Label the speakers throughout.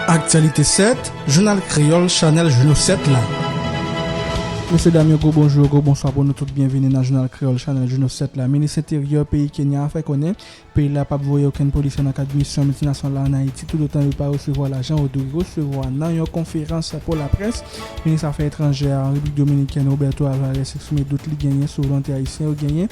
Speaker 1: Aktyalite 7, Jounal Kreyòl Chanèl Jouno 7 la. Mesye dam yo gwo bonjou, gwo bonswa pou nou tout byenvini nan Jounal Kreyòl Chanèl Jouno 7 la. Minis Enteryè peyi Kenya a fè konnen peyi l la p ap voye okenn polisye nan kad misyon miltinasyonal la ann Ayiti toutotan yo pa resevwa lajan yo dwe resevwa nan yon konferans pou laprès, Minis Afè Etranjè a ann Repiblik Dominikèn Roberto Alvarez eksprime dout li genyen sou volonte ayisyen yo genyen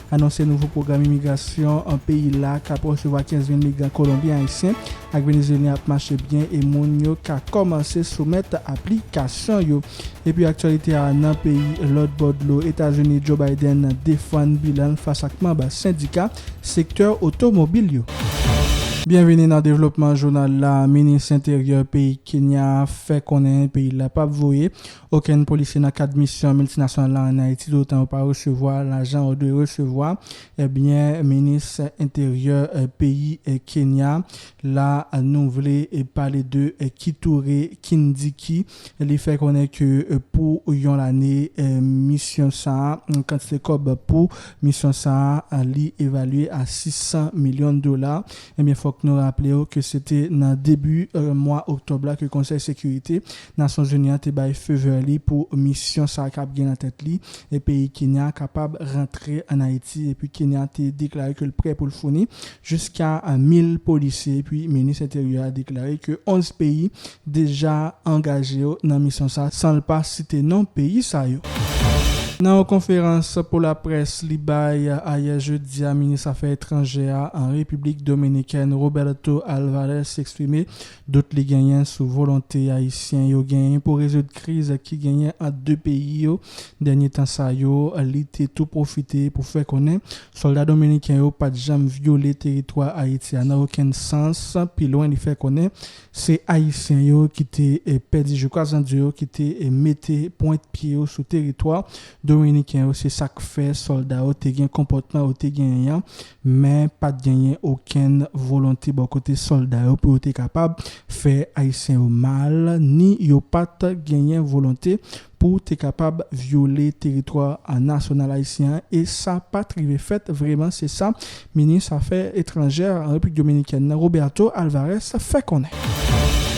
Speaker 1: anonse nouvo pwogram imigrasyon peyi la k ap resevwa 15 mil migran Kolonbyen, Ayisyen ak Venezyelyen ap mache byen e moun yo ka kòmanse soumèt aplikasyon yo. Epi aktyalite a nan peyi lòt bò dlo Etazini, Joe Biden defann bilan l fas ak manb sendika sektè otomobil yo. Byenvini nan devlopman jounal la Minis enteryè peyi Kenya a fè konnen peyi l la pap voye Okenn polisye nan kad misyon miltinasyonal la an Ayiti toutotan yo pa resevwa lajan yo dwe resevwa, ebyen minis enteryè peyi Kenya la nou vle pale de Kithure Kindiki li fè konnen ke pou yon lane misyon sa kantite kòb pou misyon sa li evalye a 600 milyon dola, ebyen fòk nou raplew ke se te nan debi mwa oktòb la ke konsèy sekirite Nasyonzini an te bay feu vert li pou misyon sa kap gen nan tèt li e peyi Kenya kapab rantre an Ayiti epi Kenya te deklare ke l prè pou l founi jiska 1000 polisye epi minis enteryè a deklare ke 11 peyi deja angaje yo nan misyon sa san l pa site non peyi sa yo. Nan yon konferans pou laprès li bay ayè jedi a minis afè etranjè a an Repiblik Dominikèn Roberto Alvarez eksprime Dout li genyen sou volonte Ayisyen yo genyen pou rezoud kriz ki genyen ant 2 peyi yo dènye tan sa yo, li te tou pwofite pou fè konnen sòlda dominiken yo pat janm vyole teritwa Ayiti a nan okenn sans, pi lwen li fè konnen se Ayisyen yo ki te pèdi jou kazandye yo ki te mete pwent pye yo sou teritwa dominiken yo se sak fè sòlda yo te gen konpòtman yo te genyen an Men, pa t genyen okenn volonte bò kote sòlda yo pou yo te kapab fè Ayisyen yo mal, ni yo pa t genyen volonte pou te kapab vyole teritwa nasyonal ayisyen an, e sa pa t rive fèt vreman, se sa minis afè etranjè Repiblik Dominikèn nan, Roberto Alvarez, fè konnen.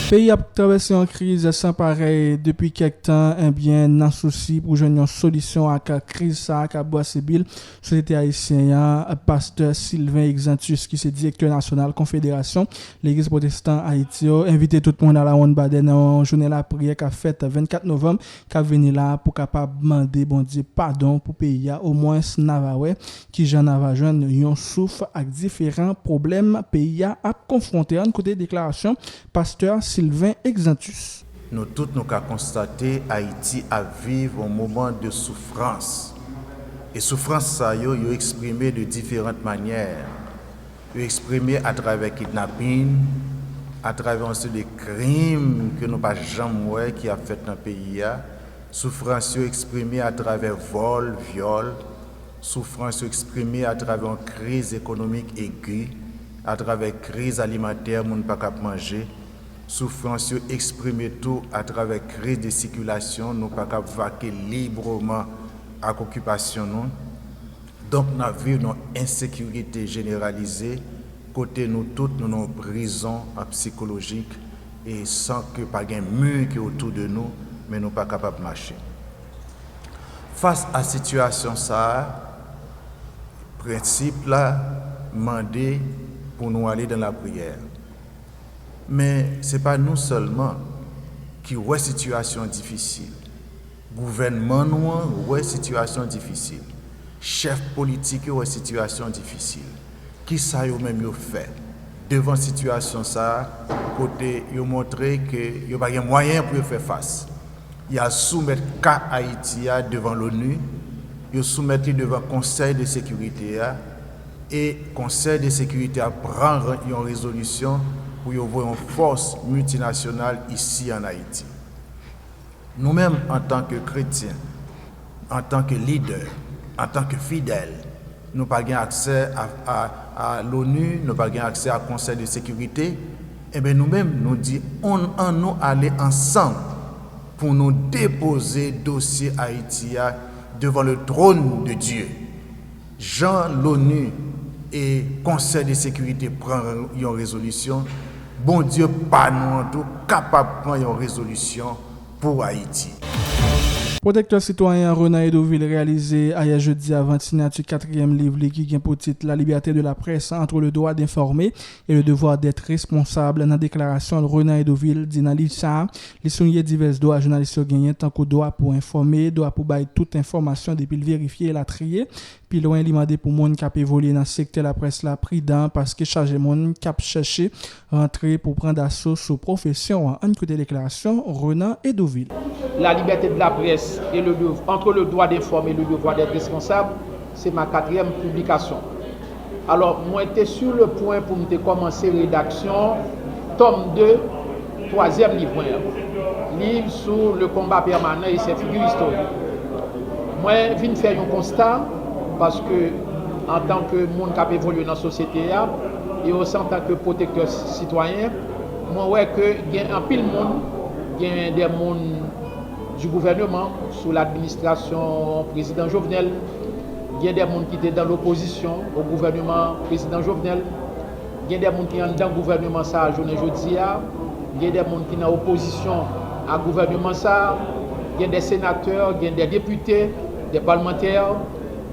Speaker 1: Peyi a ap travèse yon kriz san parèy depi kèk tan, enbyen nan sousi pou jwenn yon solisyon ak kriz sa a k ap bwase bil Sosyete ayisyen an, pastè Sylvain Exantus ki se direktè nasyonal konfederasyon legliz pwotestan Ayiti yo envite tout moun alawonn badè nan yon jounen lapriyè kap fèt 24 novanm kap vini la pou kapab mande Bondye padon pou peyi a omwens na va wè kijan na va jwenn yon souf ak diferan pwoblèm peyi a ap konfwonte ann koute deklarasyon pastè Sylvain Exantus. Nou tout nou ka
Speaker 2: konstate Ayiti ap viv on moman de soufrans. E soufrans sa yo, yo eksprime de diferant manyè. Yo eksprime atravè kidnapin, atravè on seri de krim ke nou pa janm wè ki ap fèt nan peyi a, soufrans yo eksprime atravè vòl, vyòl, soufrans yo eksprime atravè on kriz ekonomik egi, atravè kriz alimantè moun pa kab manje. Soufrans yo eksprime tou atravè kriz de sikilasyon, nou pa kab vake libreman ak okipasyon nou, donk n ap viv nan ensekirite jeneralize kote nou tout nou nan yon prizon psikolojik e san ke pa gen mi ki otou de nou men nou pa kapab mache. Fas a sitiyasyon sa a, prensip la mande pou nou ale dan lapriyè. Men, se pa nou sèlman ki wè sitiyasyon difisil. Gouvènman nou an wè sitiyasyon difisil. Chèf politik yo wè sitiyasyon difisil. Ki sa yo menm yo fè devan sitiyasyon sa a kote yo montre ke yo pa gen mwayen pou yo fè fas? Y al soumèt ka Ayiti a devan L'ONU, yo soumèt li devan Konsèy de Sekirite a, e Konsèy de Sekirite a pran yon rezolisyon pou yo voye yon fòs miltinasyonal isi an Ayiti. Nou menm antan ke kretyen, antan ke lidè, antan ke fidèl, nou pa gen aksè a l'ONU, nou pa gen aksè a Konsèy de Sekirite, enben nou menm nou di an nou ale ansanm pou nou depoze dosye Ayiti a devan le trône de Dieu. Jan l'ONU e Konsèy de Sekirite pran yon rezolisyon, Bondye pa nou an tou kapab pran yon rezolisyon pou Ayiti. Pwotektè
Speaker 1: sitwayen Renan Hédouville reyalize ayè jedi avan sinati katriyèm liv li ki gen pou tit La liberté de la presse entre le droit d'informer et le devoir d'être responsable nan deklarasyon l Renan Hédouville di nan liv sa a, li souliye divès dwa jounalis yo genyen tankou dwa pou enfòme, dwa pou bay tout enfòmasyon depi l verifye elatriye. Pi lwen li mande pou moun k ap evolye nan sektè laprès la pridan paske chaje moun k ap chèche rantre pou pran daso sou pwofesyon an. Ann koute deklarasyon Renan Hédouville. La liberté de
Speaker 3: la presse et le dev entre le droit d'informer et le devoir d'être responsable se ma katriyèm piblikasyon. Alò, mwen te su le pwen pou m te kòmanse redaksyon tòm de twazyèm liv mwen an, liv sou le konba pèmanan e sè figi istorik. Mwen vin fè yon konsta, paske antan ke moun k ap evolye nan sosyete a, e osi antan ke pwotektè sitwayen, mwen wè ke gen anpil moun, gen de moun, du gouvernement sous l'administration prezidan Jovenel gen des moun ki te dans l'opposition au gouvernement prezidan Jovenel gen des moun ki anndan gouvernement sa a jounen jodi a gen des moun ki nan opposition a gouvernement sa a gen des sénateurs gen des députés des parlementaires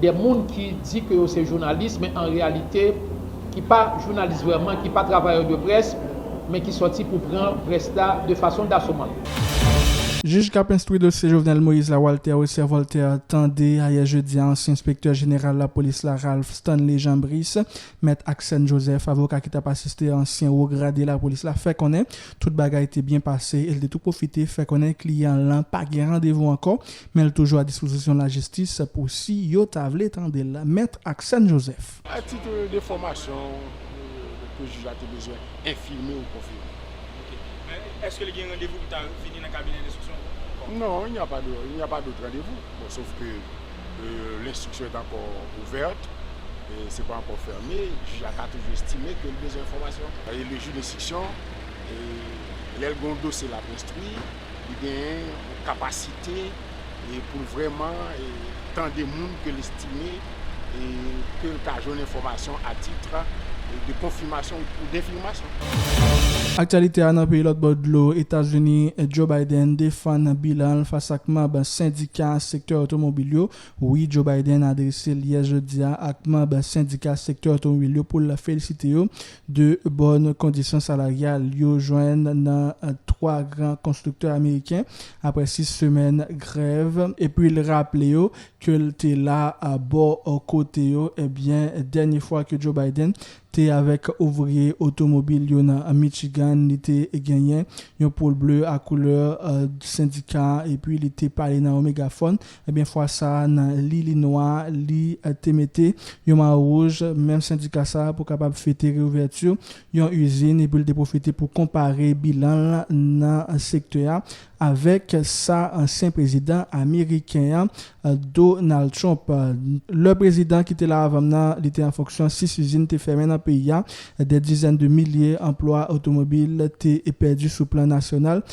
Speaker 3: de moun ki di ke yo se jounalis men an reyalite ki pa jounalis vrèman, ki pa travayè de près men ki sòti pou pran près la de fason dasoman.
Speaker 1: Jij kap enstwi dosye Jovenel Moïse la Walter Wesser Voltaire tande ayè jedi a ansyen enspektè jeneral lapolis la Ralph Stanley Jean Brice, Mèt Axène Joseph, avoka ki tap asiste ansyen wo grade lapolis la fè konnen tout bagay te byen pase e l te tou pwofite fè konnen kliyan lan pa gen randevou ankò Men l toujou a dispozisyon lajistis pou si yo ta vle tande l. Mèt Aksèn Jozèf. A tit de
Speaker 4: fòmasyon ke jij la te bezwen enfime ou konfime. Ok. Men, èske
Speaker 5: li gen randevou pou ta vini nan kabinè lenstriksyon ankò? Non, il n'y a
Speaker 4: pas de, il n'y a pas d'autre rendez-vous. Bon, sof ke lenstriksyon est encore ouverte, se pa ankò fème, jij la ka toujou estime ke li bezwen enfòmasyon. E le jij lenstriksyon, lè l gen yon dosye l ap enstwi. li genyen yon kapasite pou l vrèman tande moun ke l estime e ke l ka jwenn enfòmasyon a titre de konfimasyon ou denfimasyon.
Speaker 1: Aktyalite a nan peyi lòt bò dlo Etazini, Joe Biden defann bilan l fas ak manb sendika sektè otomobil yo. Wi, Joe Biden adrese l yè jedi a ak manb sendika sektè otomobil yo pou l felisite yo De bòn kondisyon salaryal yo jwenn nan 3 gran konstriktè ameriken aprè 6 semèn grèv epi l raple yo ke l te la bò kote yo ebyen dènye fwa ke Joe Biden te avèk ouvriye otomobil yo nan Michigan li te genyen yon poul ble a koulè sendika epi li te pale nan yon megafòn Ebyen fwa sa nan li li nwa li te mete yon mayo wouj menm sendika sa pou kapab fete reouvèti yon izin epi l te pwofite pou konpare bilan l nan sektè a avèk sa ansyen prezidan ameriken an Donald Trump lè prezidan ki te la avan m nan li te an fonksyon 6 izin te fèmen nan peyi a dè dizèn de milye anplwa otomobil te pèdi sou plan nasyonal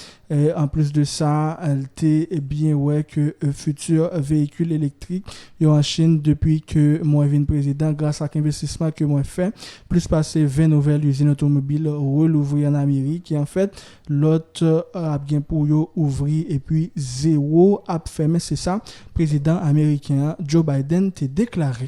Speaker 1: Anplis de sa, l te byen wè ke futur veyikil elektrik yo an Chin depi ke mwen vin prezidan gras ak envestisman ke mwen fè, plis pase 20 nouvèl izin otomobil relouvri an Amerik e an fèt lòt ap gen pou yo ouvri epi zewo ap fèmen, se sa prezidan ameriken an, Joe Biden, te deklare.